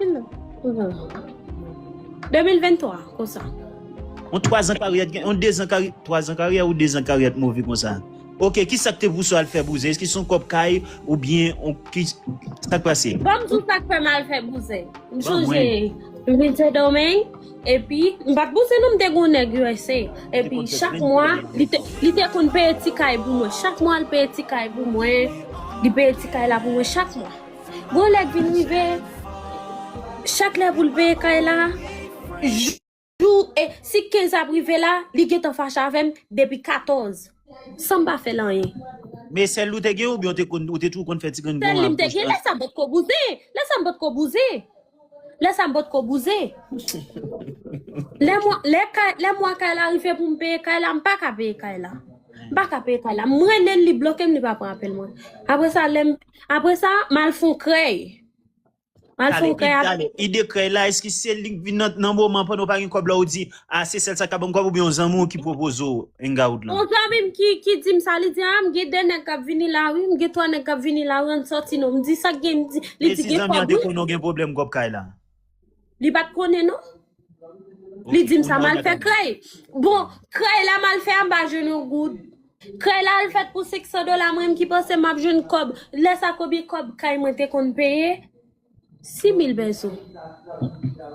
2023 konsa. On 3 ans carrière gen on 2 ans carrière 3 ans carrière ou 2 ans carrière move konsa. Ok, ki sak te pouse al fè bouzen? Eske son kòp kay ou byen on ki sak pase? Banm di w sak fè m al fè bouzen. M sonje m vin Sendomeng epi m pat bouzen non m te gen on nèg usa epi chak mwa li te li te konn peye ti kay pou mwen. Chak mwa li peye ti kay pou mwen. Li peye ti kay la pou mwen chak mwa. Gwo lè k vin rive, chak lè pou l veye kay la, jou e si 15 ap rive la, li gentan fache avè m depi 14 san m pa fè l anyen. Men sèl li w te gen oubyen ou te toujou konn fè ti grenn bon ak bouch? Sèl li m te gen, lè sa m potko bouzen, lè sa m potko bouzen. Lè sa m pot ko bouzen. Lè mwa kay la rive pou m peye kay la, m pa ka peye kay la. M pa ka peye kay la. M rele l, li bloke m, li pa pran apèl mwen. Apre sa, lè m, apre sa, m al fon krèy. M al fon krèy. Tande, ide krèy la, èske se li k vin nan moman pandan w pa gen kòb la ou di, Ah se sèl sa ka banm kob oubyen yon zanmi w ki pwopoze w hangout lan? On zanmi m ki ki dim sa li di ah m gen 2 nèg kap vini la wi m gen 3 nèg kap vini la wi ann sòti non m di sak gen li di li di Mezii gen zanmi an kob te wi. konnen w gen pwoblèm kob kay la? Li pat konnen non. Ok Li dim sa kounye a mal fè madam. krèy. Bon krèy la mal fè a m pa jwenn yon goud. Krèy la al fèt pou 500 dola mwen menm ki panse map jwenn kob lè sa konbyen kob kay mwen te konn peye? Si mil pèso.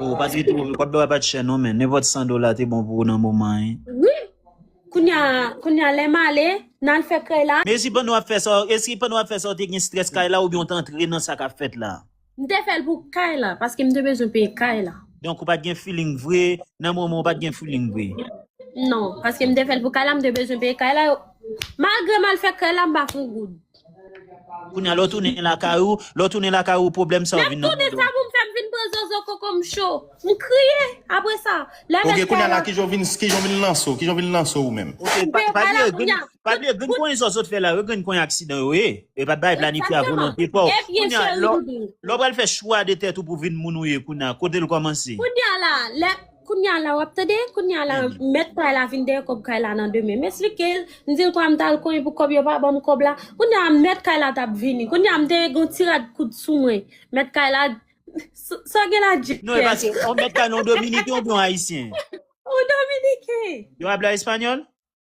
Oh pa trete move kob la pat chè non men nenpot 100 dola te bon pou ou nan moman an. Wi Kounya Kounya lè male nal fè krèy la. Mesi pandan wap fè sa, eske pandan wap fè sa ou te gen strès kay la oubyen ou t antre nan sa kap fèt la? M te fèl pou kay la paske m te bezwen peye kay la. Donk ou pat gen feeling vre nan moman ou pat gen feeling vre? Non, paske m te fèl pou kay la m te bezwen peye kay la yo malgre mal fè krèy la m pa fon goud. Kounya lè w tounen lakay ou, lè w tounen lakay ou pwoblèm sa yo vin nan tande w. Map tounen sa pou m fè m vin pran zozo koko m cho. M kriye apre sa. Lè bèk fè lòt. Ok kounya la kijan w vin lanse w, kijan w vin lanse w ou menm. Ok pa bliye grenn, pa bliye grenn konyen zozo t fè la yo, grenn konyen aksidan yo ye. E pa bay planifye a volonte pa w. Kounya lè w pral fè chwa de tèt ou pou vin moun ou ye kounya kote l kòmanse. Kounya la lè. Kounya la wap tande, kounya la mèt kay la vin dèyè kòb kay la nan demen. M esplike l, m di l kwa m t al konyen pou kòb yo pa ban m kòb la. Kounya mèt kay la t ap vini. Kounya m te gen yon ti rad koud sou mwen. Mèt kay la, Sa w gen la Jeff? Non, e pa se yon mèt kay non, yon dominiken oubyen yon ayisyen? Yon dominiken. Yo pale espanyòl?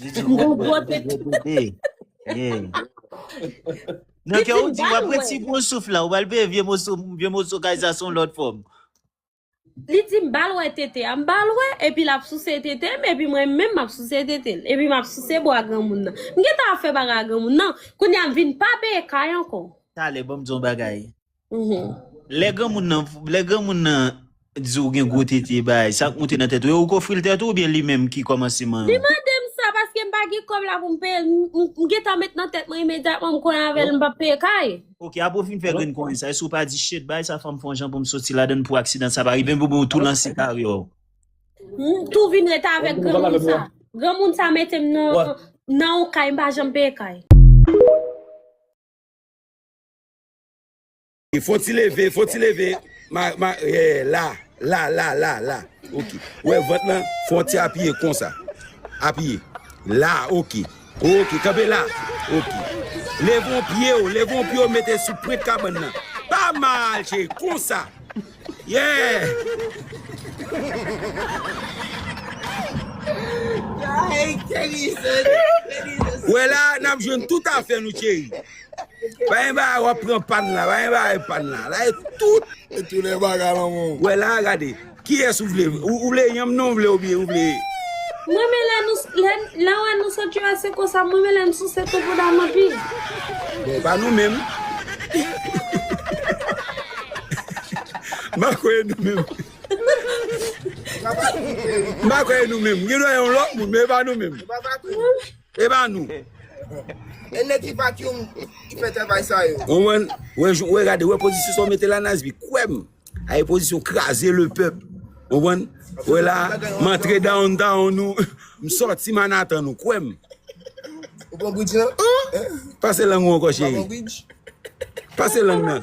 Li di gwo Gwo bwè, tete. gwo tete. Yeah. Nan Li kè fin ou di, w bal ap wè. retibon souf la, ou bal peye vye moso, vye moso kay sa son lòt fòm. Li di m bal wè tete a, m bal wè, epi l ap souse tete m, epi mwen menm m ap souse tete l, epi m ap souse bwa granmoun nan. M gentan ap fè bagay ak granmoun nan, kounye a m vin pa peye kay ankò. Talè banm di yon bagay. Lè granmoun nan, lè granmoun nan di w gen gwo tete bay, sa k moute nan tèt ou? E ou k ofri l tèt ou oubyen li menm ki kòmanse man an? Li mande m sa paske m pa gen kòb la pou m peye l. M gen tan met nan tèt mwen imedyatman m konnen avè l m p ap peye kay. Ok, apre w fin fè grenn konnen sa, èske ou pa di shit, bay sa fè m fè yon jan pou m soti ladan l pou aksidan sa pa rive m oubyen ou tou lanse karyè w? M tou vin ret avèk granmoun sa. Granmoun sa mete m nan yon kay m pa janm peye kay. Fon ti leve, fon ti leve, ma, ma, yè, la, la, la, la, la, ok. Ou wè vant lan, fon ti apiye konsa. Apiye. La, ok. Ok, kanpe la. Ok. Leve yon pye ou, leve yon pye ou mete sou pwent kabann nan. Pa mal, cheri, konsa. Yeah! Ou wè la, n ap jwenn tout afè nou, cheri. Pagen bagay wap pran pan la pagen bagay pan la la e tout. E tou le bagay lan menw. Wè la gade kiyes ou vle ou vle yanm nan ou vle ou byen ou vle. M renmen lè nou lè m wè nou sot usa konsa m renmen lè n souse tou bouda m anpil. Bon e pa nou menm. M pa kwè e nou menm. M pa kwè e nou menm. Gen dwa e yon lòt moun men e pa nou menm. E ba nou. E nèg ki pat young ki fè travay sa yo. Ou wè ou wè gade ou wè pozisyon sa ou mete la Nasby kwèm ay pozisyon kraze le pèp ou konprann ou wè la m antre down town ou m sòti Manhattan ou kwèm Ou pran bridge lan? Pase lang ou ankò cheri Pase lang nan.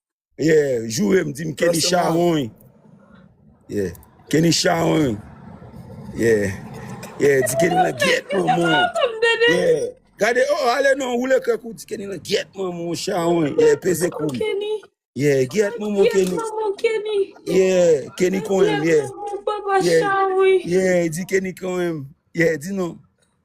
Yeah, joure m di m Kenny chawony Yeah, Kenny chawony Yeah, yeah, di Kenny lan gyèt manman w Yeah, gade o oh, ale non woule kè kou di Kenny lan gyèt manman w chawony Yeah, peze kou Yeah, gyèt manman w Kenny Yeah, Kenny konyen m Yeah, yeah, yeah, di Kenny konyen m Yeah, di non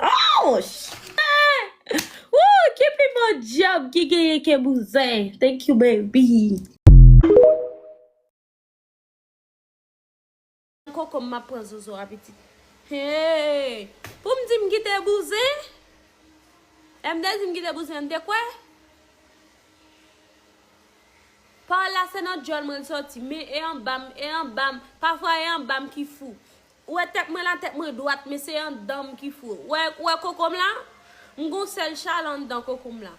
Ouch! Eeh! Ooh Keepy bon job ki genyen ke bouzen Thank you baby. Kokom map pran zozo a pitit. Hee poum di m kite bouzen lè m te di m kite bouzen an m te kwè pawòl la se nan dyòl mwen l sòti men e anba m e anba m pafwa e anba m ki fou Ou wè tèt mwen la, tèt mwen dwat, men se anndan m ki fou. Ou wè koko m la? M gon sèl chal anndan koko m la.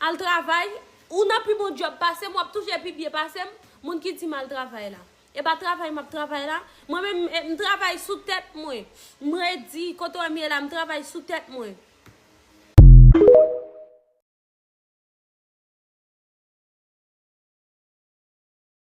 Al travay? Ou nan pi bon djòb pase m, w ap touche pi byen pase m, moun ki di m al travay la. E pa travay m ap travay la? Mwen menm, m travay sou tèt mwen. M redi, kote w wè m ye la, m travay sou tèt mwen.